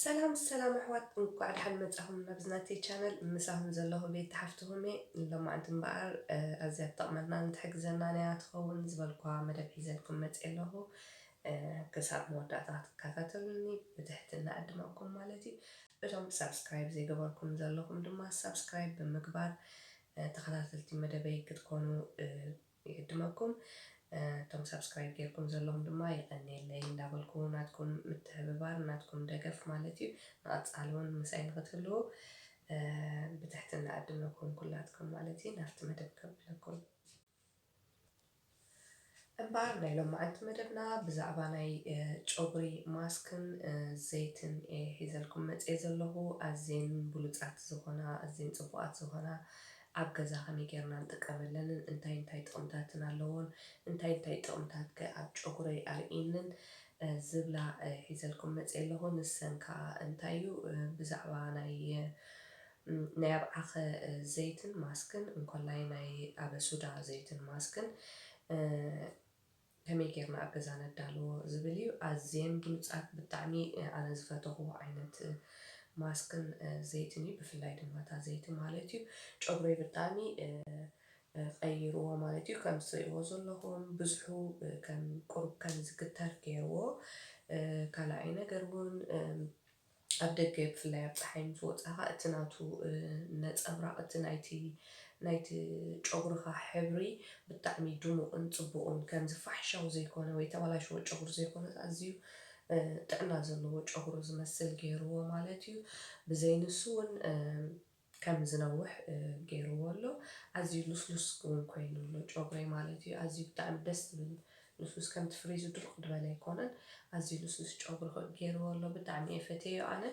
ሰላም ሰላም ኣሕዋት እንኳዕ ደሓን መጻኹም ናብዚ ናተይ ቻነል ምሳኹም ዘለኹ ቤት ተሓፍትኹም እየ ሎማዓንቲ እምበኣር ኣዝያ ትጠቕመናን ትሕግዘናን እያ ትኸውን ዝበልኳ መደብ ሒዘልኩም መጽ ኣለኹ ክሳብ መወዳእታ ክትከታተሉኒ ብትሕትና ዕድመኩም ማለት እዩ እቶም ሳብስክራይብ ዘይገበርኩም ዘለኹም ድማ ሳብስክራይብ ብምግባር ተኸታተልቲ መደበይ ክትኮኑ ይዕድመኩም። እቶም ሳብስክራይብ ጌርኩም ዘለኹም ድማ የቐንየለይ እንዳበልኩ ናትኩም ምትሕብባር ናትኩም ደገፍ ማለት እዩ ንቐጻሊ ውን ምሳይ ንኽትህልዉ ብትሕትና እዕድመኩም ኩላትኩም ማለት እዩ ናብቲ መደብ ከብለኩም። እምበኣር ናይ ሎማዕንቲ መደብና ብዛዕባ ናይ ጨጉሪ ማስክን ዘይትን እየ ሒዘልኩም መጽየ ዘለኹ ኣዝየን ብሉጻት ዝኾና ኣዝየን ጽቡቓት ዝኾና ኣብ ገዛ ከመይ ጌርና ንጥቀመለንን እንታይ እንታይ ጥቕምታትን ኣለዎን እንታይ እንታይ ጥቕምታት ከ ኣብ ጨጉረይ ኣርእይንን ዝብላ ሒዘልኩም መጽየ ኣለኹ ንሰን ከኣ እንታይ እዩ ብዛዕባ ናይ ናይ ኣብ ዓኸ ዘይትን ማስክን እንኮላይ ናይ ኣበ ሱዳ ዘይትን ማስክን ከመይ ጌርና ኣብ ገዛ ነዳልዎ ዝብል እዩ ኣዝየን ብሉጻት ብጣዕሚ ኣነ ዝፈተኽዎ ዓይነት ማስክን ዘይትን እዩ ብፍላይ ድማ እታ ዘይቲ ማለት እዩ ጨጉረይ ብጣዕሚ ቀይርዎ ማለት እዩ ከም ትርእይዎ ዘለኹም ብዝሑ ከም ቁሩብ ከም ዝግተር ጌርዎ ካልኣይ ነገር ውን ኣብ ደገ ብፍላይ ኣብ ጸሓይ ምስ ወጻኻ እቲ ናቱ ነጸብራቕ እቲ ናይቲ ናይቲ ጨጉርኻ ሕብሪ ብጣዕሚ ድሙቕን ጽቡቕን ከምዚ ፋሕሻው ዘይኮነ ወይ ተባላሽዎ ጨጉሪ ዘይኮነስ ኣዝዩ ጥዕና ዘለዎ ጨጉሪ ዝመስል ገይርዎ ማለት እዩ። ብዘይ ንሱ ውን ከም ዝነውሕ ገይርዎ ኣሎ ኣዝዩ ሉስሉስ ውን ኮይኑ ኣሎ ጮግረይ ማለት እዩ ኣዝዩ ብጣዕሚ ደስ ዝብል ሉስሉስ ከምቲ ፍሪዙ ድርቅ ድበለ ኣይኮነን ኣዝዩ ሉስሉስ ጮግሪ ገይርዎ ኣሎ ብጣዕሚ እየ ፈትየዮ ኣነ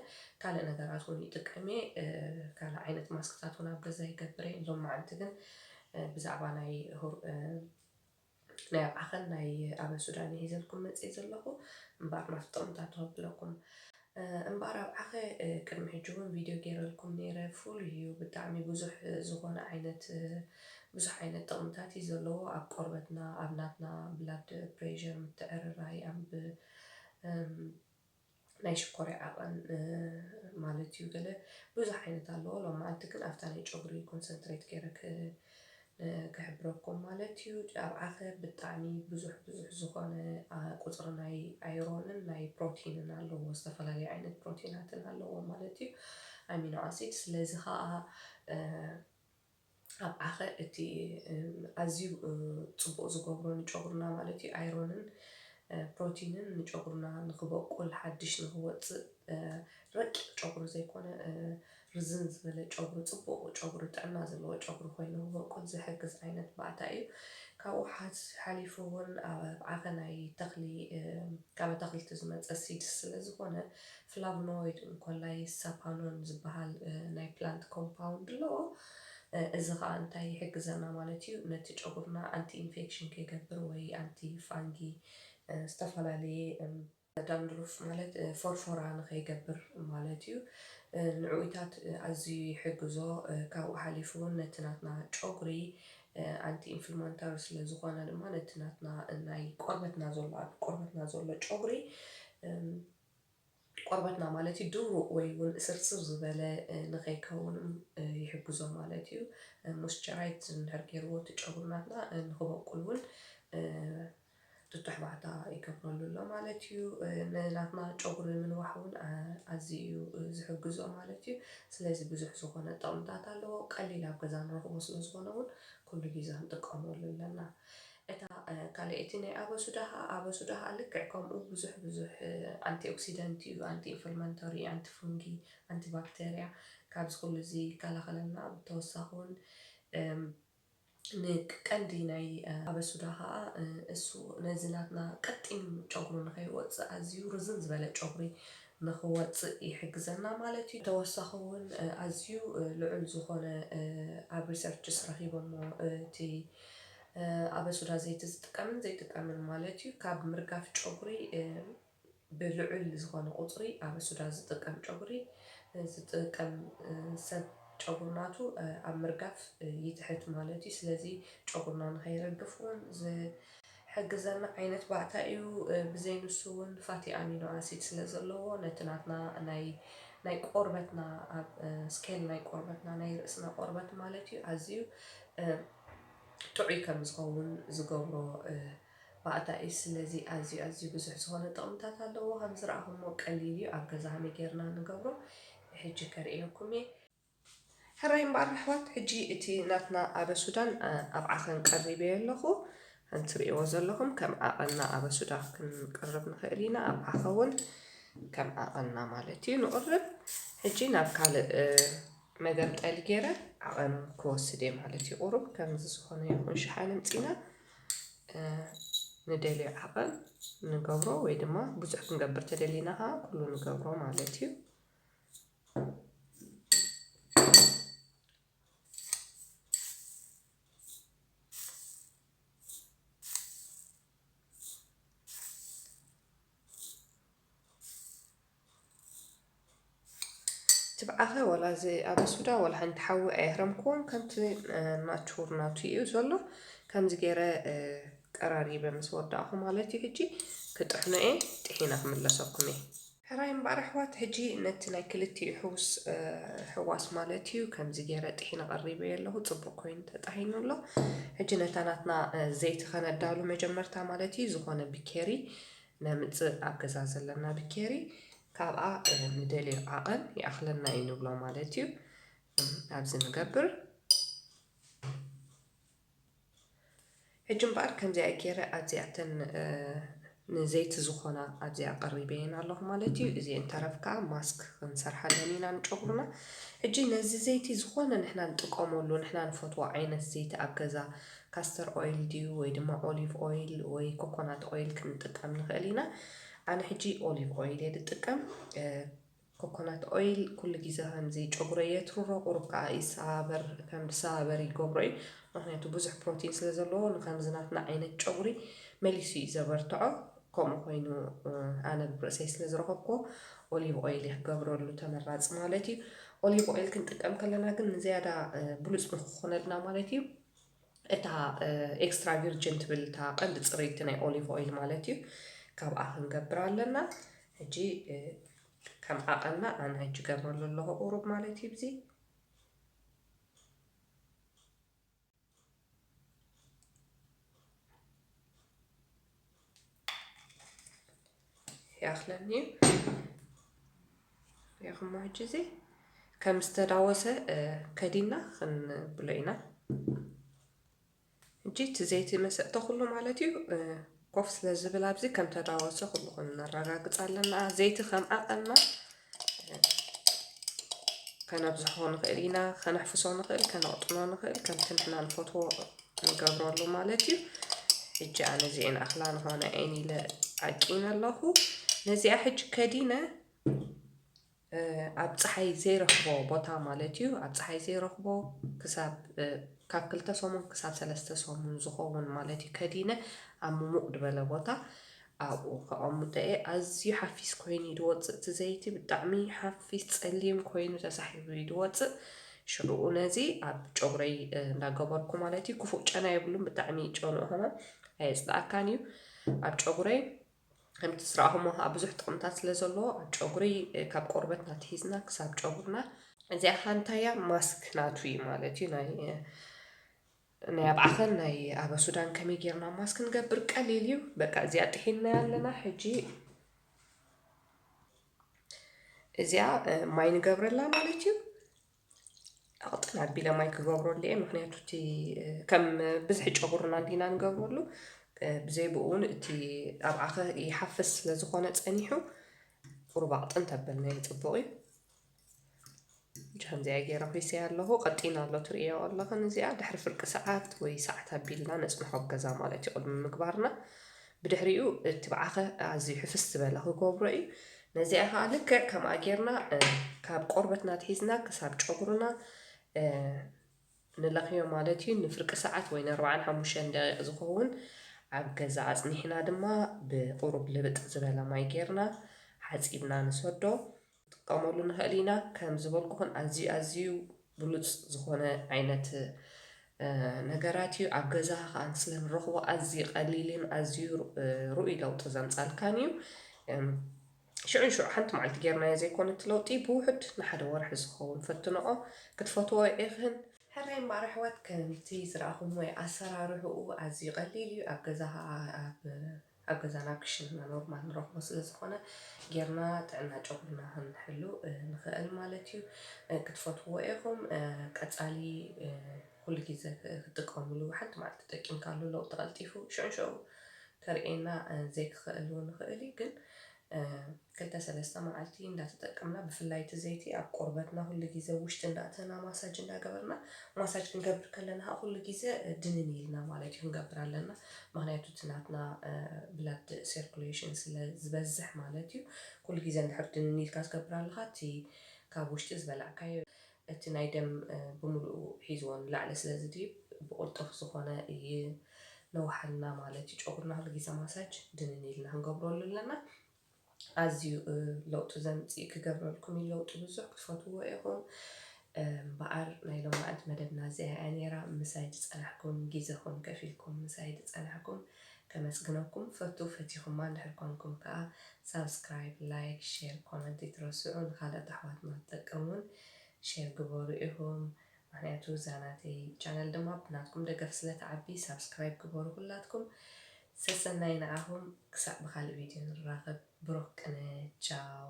ካልእ ነገራት ውን ይጥቀም እየ ካልእ ዓይነት ማስክታት ውን ኣብ ገዛ ይገብር እየ ሎማዓንቲ ግን ብዛዕባ ናይ ናይ ኣብዓኸን ናይ ኣበን ሱዳን እየ ሒዘልኩም መጺኤ ዘለኹ እምበኣር ናፍጦም እታ ተኸብለኩም እምበኣር ኣብዓኸ ቅድሚ ሕጂ እውን ቪድዮ ገይረልኩም ነይረ ፍሉይ እዩ ብጣዕሚ ብዙሕ ዝኾነ ዓይነት ብዙሕ ዓይነት ጥቕምታት እዩ ዘለዎ ኣብ ቆርበትና ኣብ ናትና ብላድ ፕሬዠር ምትዕርራይ ኣብ ናይ ሽኮርያ ዓቐን ማለት እዩ ገለ ብዙሕ ዓይነት ኣለዎ ሎማዓንቲ ግን ኣብታ ናይ ጨጉሪ ኮንሰንትሬት ገይረ ክሕብረኩም ማለት እዩ ኣብ ዓኸር ብጣዕሚ ብዙሕ ብዙሕ ዝኾነ ቁጽሪ ናይ ኣይሮንን ናይ ፕሮቲንን ኣለዎ ዝተፈላለዩ ዓይነት ፕሮቲናትን ኣለዎ ማለት እዩ ኣሚኖ ኣሲድ ስለዚ ኸኣ ኣብዓኸ እቲ ኣዝዩ ጽቡቅ ዝገብሮ ንጨጉርና ማለት እዩ ኣይሮንን ፕሮቲንን ንጨጉርና ንክበቁል ሓድሽ ንክወጽእ ረቂቅ ጨጉሪ ዘይኮነ ርዝን ዝበለ ጨጉሪ ጽቡቅ ጨጉሪ ጥዕና ዘለዎ ጨጉሪ ኮይኑ ክበቁል ዝሕግዝ ዓይነት ባእታ እዩ። ካብኡ ሓሊፉ እውን ኣብዓኸ ናይ ተኽሊ ካብ ኣታኽልቲ ዝመጸ ሲድስ ስለዝኾነ ፍላቭኖይድ እንኮላይ ሳፓኖን ዝበሃል ናይ ፕላንት ኮምፓውንድ ኣለዎ። እዚ ኸኣ እንታይ ይሕግዘና ማለት እዩ፣ ነቲ ጨጉርና ኣንቲ ኢንፌክሽን ከይገብር ወይ ኣንቲ ፋንጊ ዝተፈላለየ፣ ዳንድሩፍ ማለት ፎርፎራ ንኸይገብር ማለት እዩ፣ ንዕውታት ኣዝዩ ይሕግዞ፣ ካብኡ ሓሊፉ እውን ነቲ ናትና ጨጉሪ ኣንቲ ኢንፍልማንታሪ ስለ ዝኾነ ድማ ነቲ ናትና ናይ ቆርበትና ዘሎ ኣብ ቆርበትና ዘሎ ጨጉሪ ቆርበትና ማለት እዩ ድሩቕ ወይ እውን እስርጽር ዝበለ ንኸይከውን ይሕግዞ ማለት እዩ። ሞስቸራይት እንድሕር ገይርዎ እቲ ጨጉሪ ናትና ንክበቁል እውን ጥጡሕ ባእታ ይገብረሉ ኣሎ ማለት እዩ። ንናትና ጨጉሪ ምንዋሕ እውን ኣዝዩ እዩ ዝሕግዞ ማለት እዩ። ስለዚ ብዙሕ ዝኾነ ጥቕምታት ኣለዎ። ቀሊል ኣብ ገዛ ንረኽቦ ስለ ዝኾነ እውን ኩሉ ግዜ ንጥቀመሉ ኣለና። እታ ካልኣይቲ ናይ ኣበሱዳ ከኣ ኣበሱዳ ከኣ ልክዕ ከምኡ ብዙሕ ብዙሕ ኣንቲኦክሲደንት እዩ፣ ኣንቲኢንፍልማንቶሪ፣ ኣንቲፉንጊ፣ ኣንቲባክተርያ ካብዚ ኩሉ እዚ ይከላኸለልና። ብተወሳኺ ውን ንቀንዲ ናይ ኣበሱዳ ከኣ እሱ ነዚ ናትና ቀጢን ጨጉሪ ንኸይወጽእ ኣዝዩ ርዝን ዝበለ ጨጉሪ ንኽወጽእ ይሕግዘና ማለት እዩ። ተወሳኺ ውን ኣዝዩ ልዑል ዝኾነ ኣብ ሪሰርችስ ረኺቦሞ እቲ ኣበሱዳ ዘይቲ ዝጥቀምን ዘይጥቀምን ማለት እዩ። ካብ ምርጋፍ ጨጉሪ ብልዑል ዝኾነ ቁፅሪ ኣበሱዳ ዝጥቀም ጨጉሪ ዝጥቀም ሰብ ጨጉሪ ናቱ ኣብ ምርጋፍ ይትሕት ማለት እዩ። ስለዚ ጨጉርና ንኸይረግፍ እውን ዝሕግዘና ዓይነት ባእታ እዩ። ብዘይ ንሱ እውን ፋቲ ኣሚኖ ኣሲድ ስለ ዘለዎ ነቲ ናትና ናይ ናይ ቆርበትና ኣብ ስኬል ናይ ቆርበትና ናይ ርእስና ቆርበት ማለት እዩ ኣዝዩ ጥዑይ ከም ዝኸውን ዝገብሮ ባእታ እዩ። ስለዚ ኣዝዩ ኣዝዩ ብዙሕ ዝኾነ ጥቕምታት ኣለዎ። ከም ዝረኣኹሞ ቀሊል እዩ። ኣብ ገዛ ከመይ ጌርና ንገብሮ ሕጂ ከርእየኩም እየ። ሕራይ እምበኣር ኣሕዋት ሕጂ እቲ ናትና ኣበሱዳን ኣብ ዓኸን ቀሪበዮ ኣለኹ። ከም ትርእይዎ ዘለኹም ከም ዓቐንና ኣበሱዳ ክንቅርብ ንኽእል ኢና። ኣብ ዓኸ እውን ከም ዓቐንና ማለት እዩ ንቕርብ። ሕጂ ናብ ካልእ መገምጠሊ ጌረ ዓቐን ክወስድ እየ ማለት እዩ። ቁሩብ ከምዚ ዝኾነ ይኹን ሽሓን እምጺና ንደልዮ ዓቐን ንገብሮ ወይ ድማ ብዙሕ ክንገብር ተደሊና ኸዓ ኩሉ ንገብሮ ማለት እዩ። ትብዓኸ ወላ እዚ ኣብ ሱዳ ወላ ሓንቲ ሓዊ ኣየህረምክዎን ከምቲ ናቹር ናቱ እዩ ዘሎ ከምዚ ገይረ ቀራሪበ ምስ ወዳእኹ ማለት እዩ ሕጂ ክጥሕኖ እየ ጥሒነ ክምለሰኩም እየ ሕራይ እምበኣር ኣሕዋት ሕጂ ነቲ ናይ ክልቲኡ ሕውስ ሕዋስ ማለት እዩ ከምዚ ገይረ ጥሒነ ቀሪበ እየ ኣለኹ ፅቡቅ ኮይኑ ተጣሂኑ ኣሎ ሕጂ ነታ ናትና ዘይቲ ከነዳሉ መጀመርታ ማለት እዩ ዝኾነ ብኬሪ ነምጽእ ኣብ ገዛ ዘለና ብኬሪ ካብኣ ንደልዮ ዓቐን ይኣኽለና እዩ ንብሎ ማለት እዩ ኣብዚ ንገብር ሕጂ እምበኣር ከምዚኣ ገይረ ኣብዚኣተን ንዘይቲ ዝኾና ኣብዚኣ ቀሪበየን ኣለኹ ማለት እዩ እዚ እንተረፍ ከዓ ማስክ ክንሰርሓለን ኢና ንጨጉርና ሕጂ ነዚ ዘይቲ ዝኾነ ንሕና ንጥቀመሉ ንሕና ንፈትዎ ዓይነት ዘይቲ ኣብ ገዛ ካስተር ኦይል ድዩ ወይ ድማ ኦሊቭ ኦይል ወይ ኮኮናት ኦይል ክንጥቀም ንኽእል ኢና። ኣነ ሕጂ ኦሊቭ ኦይል እየ ዝጥቀም። ኮኮናት ኦይል ኩሉ ግዜ ከምዚ ጨጉረይ የትርሮ ቁሩብ ከዓ ይሰባበር ከም ዝሰባበር ይገብሮ እዩ ምክንያቱ ብዙሕ ፕሮቲን ስለ ዘለዎ ንከምዚ ናትና ዓይነት ጨጉሪ መሊሱ እዩ ዘበርትዖ ከምኡ ኮይኑ ኣነ ብርእሰይ ስለ ዝረኸብኩዎ ኦሊቭ ኦይል እየ ክገብረሉ ተመራፂ ማለት እዩ ኦሊቭ ኦይል ክንጥቀም ከለና ግን ንዝያዳ ብሉፅ ንክኾነልና ማለት እዩ እታ ኤክስትራ ቪርጅን ትብል እታ ቀንዲ ፅርይቲ ናይ ኦሊቭ ኦይል ማለት እዩ ካብኣ ክንገብር ኣለና ሕጂ ከም ዓቐና ኣነ ሕጂ ገርመሉ ኣለኹ ቁሩብ ማለት እዩ ብዚ ይኣኽለኒ እዩ ያኹሞ ሕጂ እዚ ከም ዝተዳወሰ ከዲና ክንብሎ ኢና ሕጂ እቲ ዘይቲ መሰጠ ኩሉ ማለት እዩ ኮፍ ስለ ዝብል ኣብዚ ከም ተዳወሰ ኩሉ ክንረጋግፅ ኣለና ዘይቲ ከም ዓቐንና ከነብዝሖ ንኽእል ኢና ከነሕፍሶ ንኽእል ከነቕጥኖ ንኽእል ከምቲ ንሕና ንፈትዎ ንገብረሉ ማለት እዩ ሕጂ ኣነ እዚኤን ኣኽላ ንኾነ ኤን ኢለ ኣቂነ ኣለኹ ነዚኣ ሕጂ ከዲነ ኣብ ፀሓይ ዘይረኽቦ ቦታ ማለት እዩ ኣብ ፀሓይ ዘይረኽቦ ክሳብ ካብ ክልተ ሰሙን ክሳብ ሰለስተ ሰሙን ዝኸውን ማለት እዩ ከዲነ ኣብ ምሙቕ ድበለ ቦታ ኣብኡ ከቀሙጠኤ ኣዝዩ ሓፊስ ኮይኑ እዩ ድወጽእ እቲ ዘይቲ ብጣዕሚ ሓፊስ ጸሊም ኮይኑ ተሳሒቡ እዩ ድወጽእ ሽዑኡ ነዚ ኣብ ጨጉረይ እንዳገበርኩ ማለት እዩ ክፉእ ጨና የብሉን ብጣዕሚ ጨንኡ ከማን ኣየጽላኣካን እዩ ኣብ ጨጉረይ ከምቲ ዝረኣኹሞ ከዓ ብዙሕ ጥቕምታት ስለ ዘለዎ ኣብ ጨጉሪ ካብ ቆርበትና ትሒዝና ክሳብ ጨጉርና እዚኣ ሃንታያ ማስክ ናቱ እዩ ማለት እዩ ናይ ናይ ኣብ ዓኸን ናይ ኣበ ሱዳን ከመይ ጌርና ማስ ክንገብር ቀሊል እዩ በቃ እዚኣ ጥሒንናያ ኣለና ሕጂ እዚኣ ማይ ንገብረላ ማለት እዩ ኣቕጥን ኣቢለ ማይ ክገብረሉ እየ ምክንያቱ እቲ ከም ብዝሒ ጨጉርና እንዲና ንገብረሉ ብዘይ ብኡ እውን እቲ ኣብ ዓኸ ይሓፍስ ስለ ዝኾነ ፀኒሑ ቁሩብ ኣቕጥን ተበልና እዩ ፅቡቕ እዩ ጃንዚኣ ጌረ ኹይሰያ ኣለኹ ቀጢና ኣሎ ትርእዮ ኣለኽን እዚኣ ድሕሪ ፍርቂ ሰዓት ወይ ሰዓት ኣቢልና ነጽንሖ ገዛ ማለት እዩ ቅድሚ ምግባርና ብድሕሪኡ እቲ ብዓኸ ኣዝዩ ሕፍስ ዝበለ ክገብሮ እዩ ነዚኣ ከዓ ልክዕ ከምኣ ጌርና ካብ ቆርበትና ትሒዝና ክሳብ ጨጉርና ንለኽዮ ማለት እዩ ንፍርቂ ሰዓት ወይ ንኣርባዓን ሓሙሽተን ደቂቕ ዝኸውን ኣብ ገዛ ኣጽኒሕና ድማ ብቑሩብ ልብጥ ዝበለ ማይ ጌርና ሓጺብና ንሰዶ ክንጥቀመሉ ንኽእል ኢና። ከም ዝበልኩኽን ኣዝዩ ኣዝዩ ብሉጽ ዝኾነ ዓይነት ነገራት እዩ። ኣብ ገዛኻ ከኣ ንስለ ንረኽቦ ኣዝዩ ቀሊልን ኣዝዩ ርኡይ ለውጢ ዘምጻልካን እዩ። ሽዑ ንሽዑ ሓንቲ መዓልቲ ጌርናዮ ዘይኮነ እቲ ለውጢ ብውሑድ ንሓደ ወርሒ ዝኸውን ፈትነኦ። ክትፈትዎ ኢኽን። ሕራይ እምበኣር ኣሕዋት ከምቲ ዝረኣኹምዎ እዩ። ኣሰራርሕኡ ኣዝዩ ቀሊል እዩ። ኣብ ገዛኻ ኣብ ኣብ ገዛና ኣብ ክሽነና ኖርማል ንረኽቦ ስለ ዝኾነ ጌርና ጥዕና ጨጉርና ክንሕሉ ንኽእል ማለት እዩ። ክትፈትዉዎ ኢኹም። ቀጻሊ ኩሉ ግዜ ክትጥቀምሉ ሓንቲ መዓልቲ ተጠቂምካሉ ለውጢ ቀልጢፉ ሽዑንሽዑ ከርእየና ዘይክኽእል እውን ይኽእል እዩ። ግን ክልተ ሰለስተ መዓልቲ እንዳተጠቀምና ብፍላይ እቲ ዘይቲ ኣብ ቆርበትና ኩሉ ግዜ ኣብ ውሽጢ እንዳእተና ማሳጅ እንዳገበርና ማሳጅ ክንገብር ከለና ከኣ ኩሉ ግዜ ድንን ኢልና ማለት እዩ ክንገብር ኣለና ምክንያቱ እቲ ናትና ብላድ ሴርኩሌሽን ስለ ዝበዝሕ ማለት እዩ ኩሉ ግዜ እንድሕር ድንን ኢልካ ትገብር ኣለካ እቲ ካብ ውሽጢ ዝበላዕካዮ እቲ ናይ ደም ብምሉኡ ሒዝዎ ንላዕሊ ስለ ዝድይብ ብቕልጡፍ ዝኾነ ይነውሓልና ማለት እዩ። ጨጉርና ኩሉ ግዜ ማሳጅ ድንን ኢልና ክንገብረሉ ኣለና። ኣዝዩ ለውጢ ዘምጽእ ክገብረልኩም እዩ ለውጢ ብዙሕ ክትፈትውዎ ኢኹም። እምበኣር ናይ ሎማዕንቲ መደብና እዚኣ እያ ነይራ ምሳይ ዝጸናሕኩም ግዜኹም ከፊልኩም ምሳይ ዝጸናሕኩም ከመስግነኩም ፈቱ ፈቲኹማ እንድሕር ኮንኩም ከኣ ሳብስክራይብ ላይክ ሼር ኮመንት ኣይትረስዑ ንኻልኦት ኣሕዋትና ትጠቅም ውን ሼር ግበሩ ኢኹም ምኽንያቱ እዛ ናተይ ቻነል ድማ ብናትኩም ደገፍ ስለ ትዓቢ ሳብስክራይብ ግበሩ ኩላትኩም ሰሰናዩ ንዓኹም ክሳዕ ብኻልእ ቪድዮ ንራኸብ ብሩኽ ቅነ ቻው።